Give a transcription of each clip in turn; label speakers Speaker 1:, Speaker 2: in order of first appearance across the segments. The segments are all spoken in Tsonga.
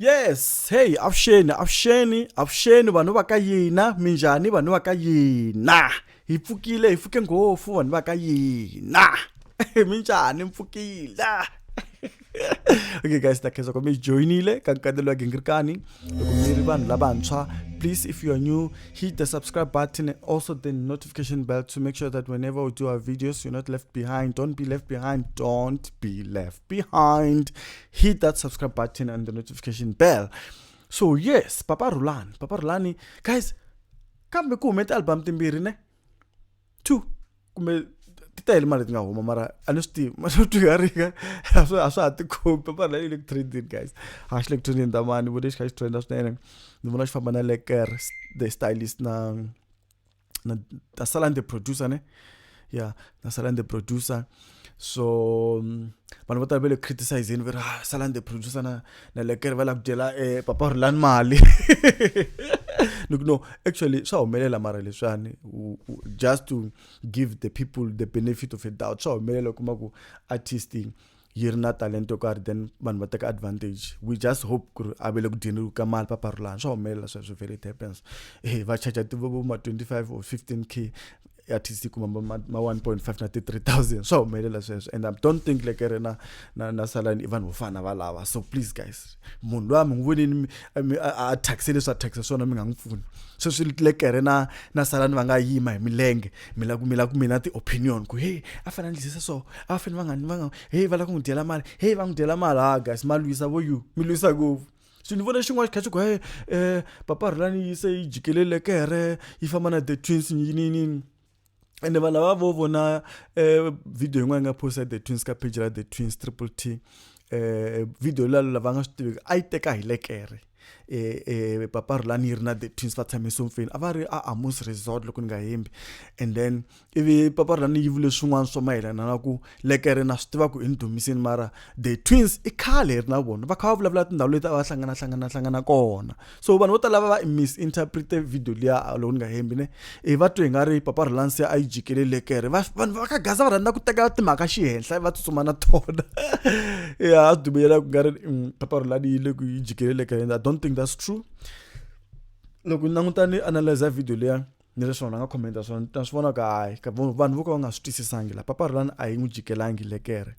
Speaker 1: yes hey avuxeni avuxeni avuxeni vanhu va ka yina minjhani vanhu va ka yina hi pfukile hi pfuke ngopfu vanhu va ka yina minjhani mpfukile okay guys ta khensa ku mi joinile ka nkatelo wa gingirikani loko mi ri vanhu lavantshwa please if you are new hit the subscribe button and also the notification bell to make sure that whenever we do our videos you're not left behind don't be left behind don't be left behind, hit that subscribe button and the notification bell. So yes, Papa Rulani, Papa Rulani, guys, kambe ku hume ti-album timbirhi ne two kumbe ti tele mali ti nga huma mara a ni swi tivi ma swo twiharika a swa a swa ha tikhombi papara la le ku trendini guys a xi le ku trendini tamani vo lexi kha xi trenda swinene ni vona xi famba na leker the stylist na na ta sala ni the producer ne ya na sala ni the producer so mm, vanhu vo tala va le criticizeni va ri ah, sala ni the producer na na lekere va lava ku dyela eh, papa ri lani mali ni ku no actually swa humelela mara leswiwani just to give the people the benefit of a doubt swa humelela u kuma ku artist yi ri na talenta yo karhi then vanhu va teka advantage we just hope ku ri a ve le ku dyeni ka mali paparulani swa humelela sweswo very it happens e va charge tiva vo ma 25 or 15 k artist yi kuma ma 1.5 na ti-3000 swa humelela sweswo and i don't think like ri na na na salani i vanhu vo fana va lava so please guys munhu loyi a mi n'wi vonini a thyakise leswi a thyakisa swona mi nga n'wi pfuni sweswi lekere na na salani va nga yima hi milenge mi la ku mi la ku mina ti-opinion ku heyi a fanele a ndlise so a fanele va nga va nga heyi va lava ku n'wi dyela mali heyi va n'wi dyela mali ha ah, guys ma lwisa vo you mi lwisa ngopfu so ni vona xin'wana xi kha xi ku he um papa rhulani yi se yi jikelele kere yi famba na the twins yiniyinini ende vanhu lava vo vona um video yin'wana yi nga posta the twins ka page ra the twins triple t um video lalo lava nga swi tiveki a yi teka hi lekere eh, eh, papa rulani yi ri na the twins va tshame somfeni a va ri a amos resort loko ni nga hembi and then ivi papa rulani yi vule swin'wana swo mayelana na ku lekere na swi tiva ku i ni dumiseni mara the twins i khale hi ri na vona va kha va vulavula tindhawu leti a va hlangana hlangana hlangana kona so vanhu vo tala va va misinterprete video liya loko ni nga hembi ne i va twe nga ri papa relansi a yi jikelele kere vanhu va ka gaza va rhandza ku teka timhaka xihenhla va tsutsuma na tona ya a dumeyela ku nga ri mm, papa relani yi le ku yi jikelele kere and i don't think that's true loko ni languta ni analyza video leya ni leswi vanhu va nga commenta swona ta swi vona ku hayi vanhu vo ka va nga swi twisisangi la papa relani a yi n'wi jikelangi lekere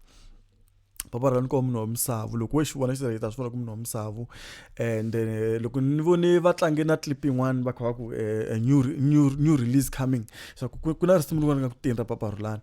Speaker 1: papa ra ni koho munhu wa misavu loko we xi vona xi ta swi vona ku munhu wa misavu and eh, loko ni vone va tlange na clip yin'wana va kha va ku eh, eh, new, new, new release coming swa ku ku na risimu rin'wana nga ku teni ra papa rulani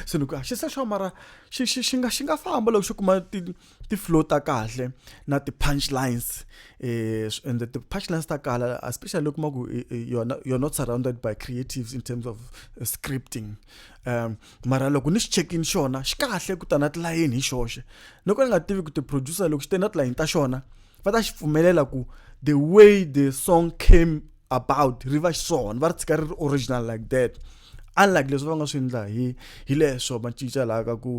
Speaker 1: se ni ku ah, xi se xo mara xi xi xi nga xi nga famba loko xi kuma ti ti flow ta kahle na ti punchlines eh and the punchlines ta kala especially loko ma ku you're not, you're not surrounded by creatives in terms of uh, scripting um mara loko ni xi check-ini xona xi kahle ku ta na tilayeni hi xoxe ni ko ni nga tivi ku ti-producer loko xi te na tilayeni ta xona va ta xi pfumelela ku the way the song came about ri va xiswona va ri tshika ri ri original like that unlike leswi va nga swi endla hi hi leswo va cinca laha ka ku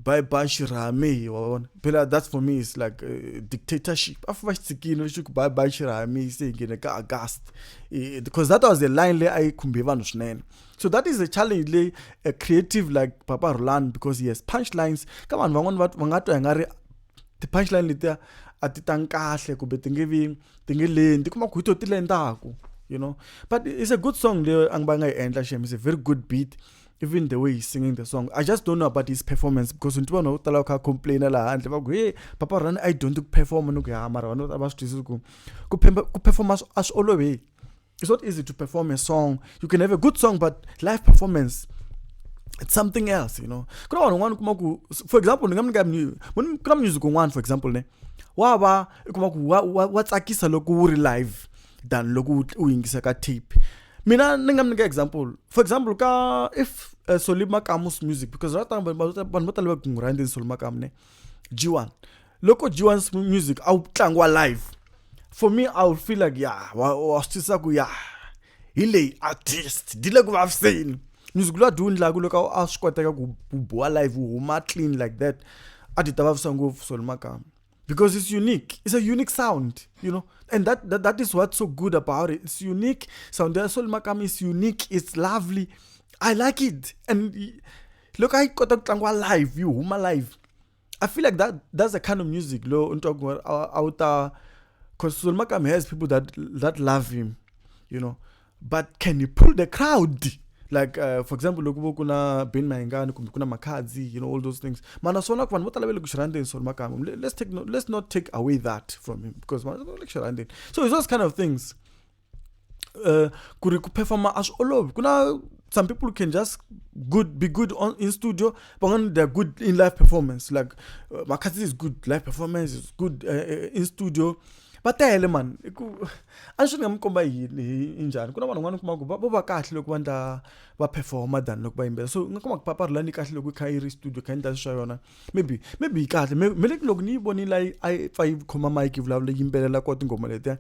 Speaker 1: bye bye xirhami hi wa vona phela that's for me is like eh, dictatorship a va xi tshikile lexi ku bye bye xirhami se hi nghene ka august eh, because that was the line leyi a yi khumbe vanhu swinene so that is a challenge leyi a creative like papa roland because he has punchlines ka vanhu van'wana va va nga twa hi nga ri ti-punchline letiya a ti tangi kahle kumbe ti nge vi ti nge leni ti kuma ku hi to ti lendaku you know but it's a good song leyo a va nga yi endla shem is a very good beat even the way he's singing the song i just don't know about his performance because nti vanhu va ku tala va kha complaina laha handle va ku he papa rani a yi dyondzi ku performa ni ku ya mara vanhu va swi twisisi ku ku performa a swi oloveki It's not easy to perform a song. You can have a good song, but live performance, it's something else, you know. Kuna vanhu van'wana kuma ku for example ni nga mi nyika mu- mu ni- kuna music un'wana for example ne wa va i kuma ku wa, wa, wa tsakisa loko wu ri live than loko wu- u yingisa ka tape mina ni nga mi nyika example for example ka if uh, soli makamu's music because right now vanhu vanhu vo tala va kungu rhandzi soli makamu ne G1 loko G1's music a wu tlangiwa live for me I would feel like ya wa wa swi twisisa ku ya hi leyi artist di le ku vaviseni music loyi a di wu ndlaku loko a swi koteka ku ku boha live wu huma clean like that a ti ta vavisa ngopfu solo makama because it's unique it's a unique sound you know and that, that that is what's so good about it it's unique sound ya solo makama is unique it's lovely i like it and loko a yi kota ku tlangiwa live yi huma live i feel like that that's the kind of music lo u twa ku a wu ta because Suzulu Makame has people that that love him you know but can he pull the crowd like uh, for example loko vo ku na ben mayengani kumbe ku na makhadzi you know all those things mana swona ku vanhu vo tala va le ku xi rhandzeni swona makama let's, take no, let's not take away that from him because vanhu va le ku xi rhandzeni so it's those kind of things uh, ku ri ku performa a swi olovi ku na some people can just good be good on in studio but when they're good in live performance like uh, makhathi is good live performance is good uh, uh in studio va tele mani i ku a ni swi ni nga mi komba yini hi njhani ku na vanhu van'wana kuma ku vo va kahle loko va ndla va performa than loko va yimbela so nga kuma ku paparhulani kahle loko yi kha yi ri studio kha yi ndla swa yona maybe maybe yi kahle me me leti loko ni yi vonile a yi a yi pfa yi khoma mike yi vulavula yimbelela ko tinghoma letiya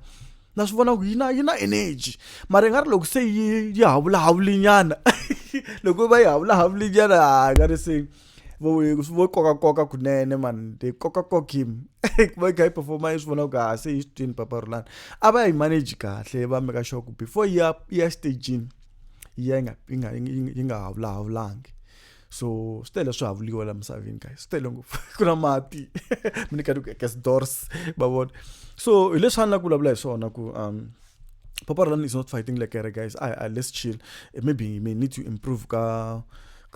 Speaker 1: na swi vona ku yi na yi na energy mara yi nga ri loko se yi yi havulahavulinyana loko va yi havulahavulinyana ha nga ri se vo vo kokakoka kunene mani ti kokakoka him ku va yi kha yi performa yi swi vona ku ha se yi swi twini papa rulani a va yi manage kahle va meka sure ku before yi ya yi ya stagini yi ya yi nga yi nga yi nga havulahavulangi so swi tele swi havuriwa la misaveni guys swi tele ngopfu ku na mati mi ni ka gas doors va vona so hi leswi a ni la ku vulavula hi swona ku um papa ralani is not fighting like here guys I, I let's chill eh, maybe you may need to improve ka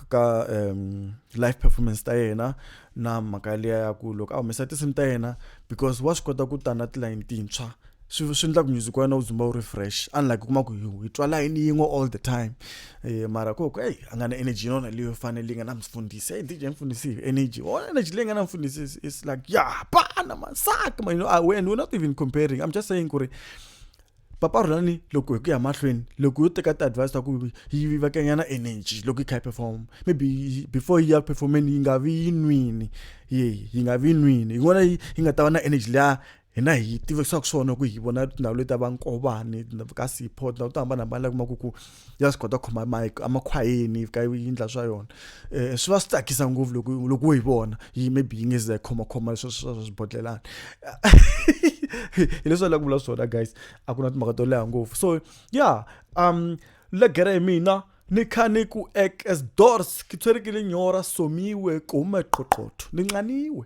Speaker 1: ka um, life performance ta yena na mhaka liya ya ku loko a humesa tinsimu ta yena because wa swi kota ku ta na tilayini tintshwa swi swi endla ku music wa yena wu dzumba wu ri fresh unlike u kuma ku hi twa layini yin'we all the time um mara ku ku eyi a nga na energy yinona leyi yo fanele yi nga na mfundhisi eyi dj mfundhisi hi energy o oh, energy leyi nga na mfundhisi is like ya pana masaka ma you know ah, and we're not even comparing i'm just saying ku ri papa rhulani loko hi ku ya mahlweni loko yo teka ti-advice ta ku yi vivakanyana energy loko yi kha yi perform maybe before yi ya performeni yi nga vi yi nwini ye yi nga vi yi nwini yi vona yi nga ta va na energy leya hina hi tivekisaka swona ku hi vona tindhawu leti ta vankovani ka sipho tindhawu to hambanahambana la kumaku ku ya swi kota ku khoma mike emakhwayeni ka yi ndla swa yona um swi va swi tsakisa ngopfu loko loko yi vona yi maybe yi nge ze khomakhoma leswi swa swa swibodlelana hi leswi a la ku vula swona guys a ku na timhaka to leha ngopfu so ya yeah, um legere hi mina ni kha ni ku ekesdors ki tshwerekile nyora somiwe kume qoqotho ni nxaniwe